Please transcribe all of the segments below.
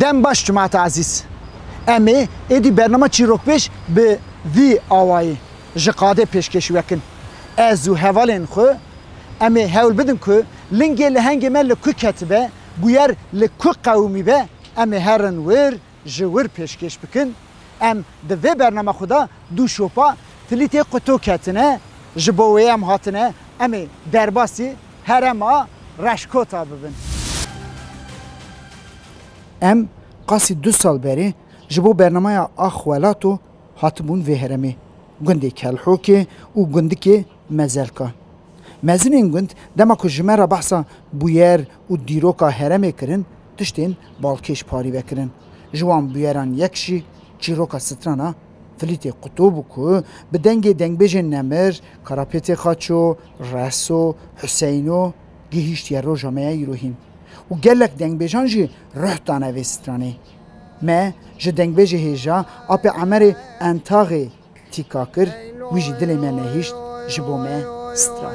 Dem baş cemaeta ezîz. Em ê êdî bernama Çîrokbêj bi vî awayî ji qadê pêşkêş wekin. Ez û hevalên xwe em ê hewl bidin ku lingê lehengê me li ku ketibe, bûyer li ku qewimî be em ê herin wir ji wir pêşkêş bikin. Em di vê bernama xwe de du şopa flîtê quto ketine, ji bo wê em hatine, em ê derbasî. Herema reşkota bibin. Em qasî du sal berê ji bo bernameya Ax Welato hatibûn vê heremê, gundê Kelhokê û gundikê Mezelka. Mezinên gund dema ku ji me re behsa bûyer û dîroka heremê kirin, tiştên balkêş parî vekirin. Ji wan bûyeran yek jî çîroka strana Flîtê Quto bû ku bi dengê dengbêjên Nemir, Karapêtê Xaço, Reso, Huseyno gihîştiye roja me ya îro hîn û gelek dengbêjan jî ruh dane vê stranê. Me ji dengbêjê hêja Apê Emerê Entaxê tîka kir, wî ji dilê me nehîşt ji bo me stran.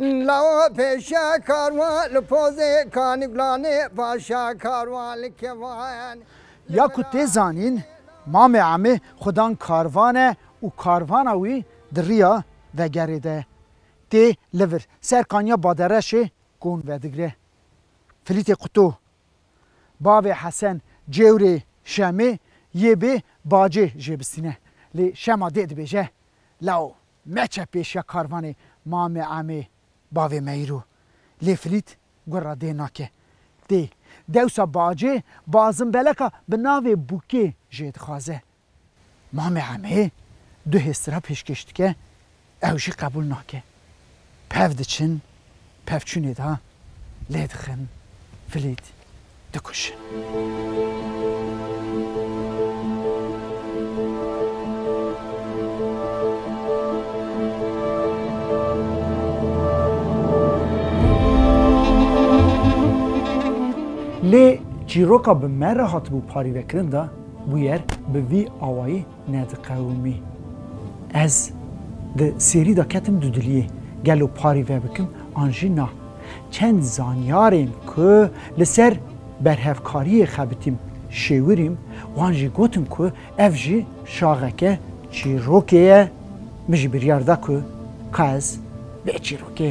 Lawa pêşe karwa li pozê kanî gulanê paşa karwa li kevaen. Ya ku tê zanîn Mamê Emê xwe dan karvan e û karvana wî di riya vegerê de tê li vir ser kaniya Badereşê kon vedigre. Filîtê quto. Bavê Hesen cewrê Şemê yê bê bacê jêbistîne lê Şema dê dibêje Lawo. Meçe pêşiya karvanê mamê emê bavê meyîro. Lê flît gur ra dê nake. Tê. Dewsa bacê bazimbeleka bi navê Bûkê jê dixwaze. Mamê emê du hêstra pêşkêş dike, ew jî qebûl nake. Pev diçin Pevçûnê de lê dixin, flît dikuşin. Lê çîroka bi me re hatibû parîvekirin de bûyer bi vî awayî. Nediqewimî. Ez di sêrî de ketim dudiliyê, gelo parî vebikim an jî na. Çend zanyarên ku li ser berhevkariyê xebitîm şêwirîm, wan jî gotin ku ev jî şaxeke çîrokê ye, min jî biryar da ku ka ez vê çîrokê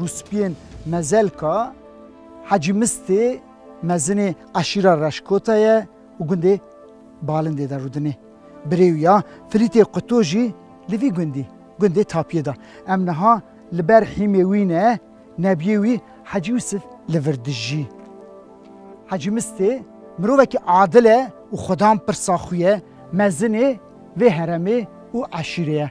Rûspiyên Mezelka Hecî Mistê mezinê eşîra Reşkota ye û gundê Balindê de rûdine. Birê wî ya Filîtê Quto jî li vî gundî, gundê Tapiyê de. Em niha li ber hîmê wî ne, nebiyê wî Hecî Yûsif li vir dijî. Hecî Mistê mirovekî adil e û xwedan pirsa xwe ye, mezinê vê heremê û eşîrê ye.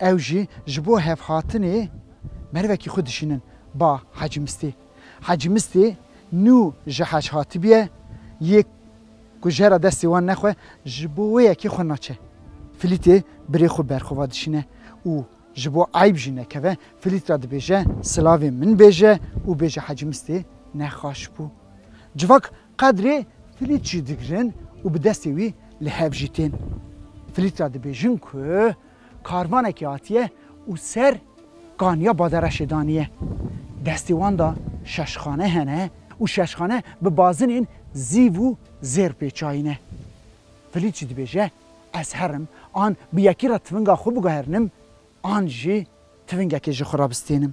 Ew jî ji bo hevhatinê merivekî xwe dişînin ba Hecî Mistê. Hecî Mistê nû ji hec hatibûye, yê ku jera destê wan nexwe ji bo wê yekê xwe naçe. Filîtê birê xwe berxova dişîne û ji bo eyb jî nekeve filît re dibêje, Silavê min bêje û bêje Hecî Mistê ne xaş bû. Civak Qedrê flît jî digirin û bi destê wî li hev jî tên. Flît re dibêjin ku karvanekî hatiye û ser kaniya Badereşê daniye. Destê wan de şeşxane hene û şeşxane bi bazinên zîv û zêr pê çayîne. Flît jî dibêje ez her im an bi yekî re tivinga xwe biguherinim an jî tivingekê ji xwe re bistênim.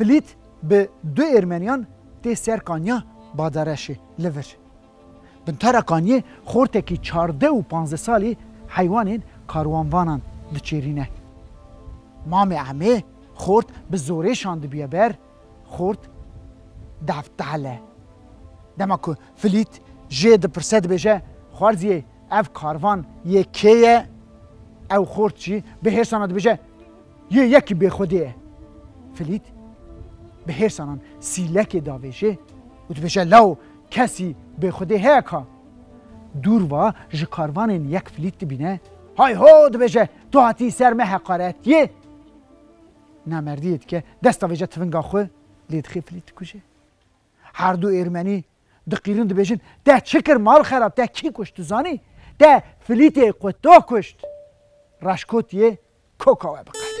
Flît bi du êrmeniyan tê ser kaniya Badareşê li vir. Bintara kaniyê xortekî çardeh û panzdeh salî heywanên karwanvanan diçêrîne. Mamê Emê xort bi zorê şandibûye ber Xort def diele. Dema ku Flît jê dipirse dibêje, Xwarziyê ev karvan yê kê ye? Ew xort jî bi hêrsana dibêje, Yê yekî bêxwedê ye. Flît bi hêrsanan sîlekê davêjê û dibêje, Law kesî bêxwedê heye ka? Dûrva ji karvanên yek Flît dibîne, Hay ho! dibêje, Tu hatiyî ser me heqaretiyê? Namerdiyê dike dest avêje tivinga xwe lê dixê filî dikuje. Her du êrmenî diqîrin dibêjin te çi kir mal xerab te kî kuşt tu zanî te filîtê xwe to kuşt. Reşkotiyê koka we biqedî.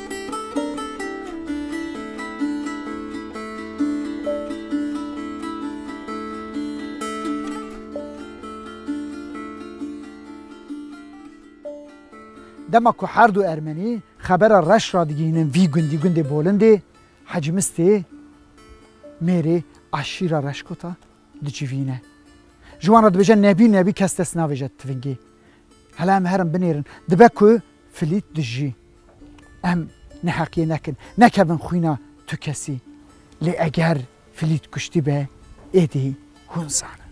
Dema ku her du ermenî xebera reş radigihînin vî gundî gundê Bolindê, Hecî Mistê mêrê eşîra reş kota dicivîne. Ji wan re dibêje nebî nebî kes dest navêje tivingî. Hela em herin binêrin. Dibe ku filît dijî. Em neheqiyê nekin. Nekevin xwîna tu kesî. Lê eger filît kuştî be êdî hûn zanin.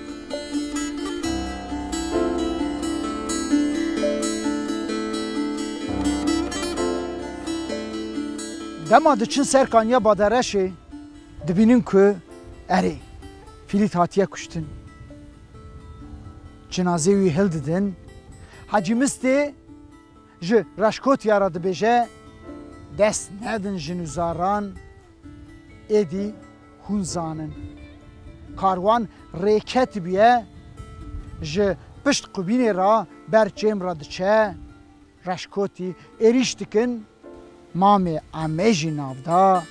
Dema diçin ser kaniya Badereşê dibînin ku erê, Fîlît hatiye kuştin. Cinazeyê wî hildidin. Hacî Mistê ji Reşkotiya re dibêje, Dest nedin jin û zaran. Êdî hûn zanin karwan rêketibûye ji pişt qubînê re ber çêm re diçe Reşkotî êrîş dikin. Mamê Emê jî navda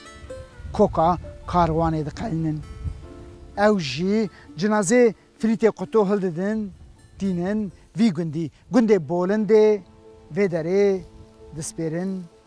koka karwanê diqelînin. Ew jî cinazê Filîtê Quto hildidin tînin vî gundî. Gundê Bolindê vê derê dispêrin.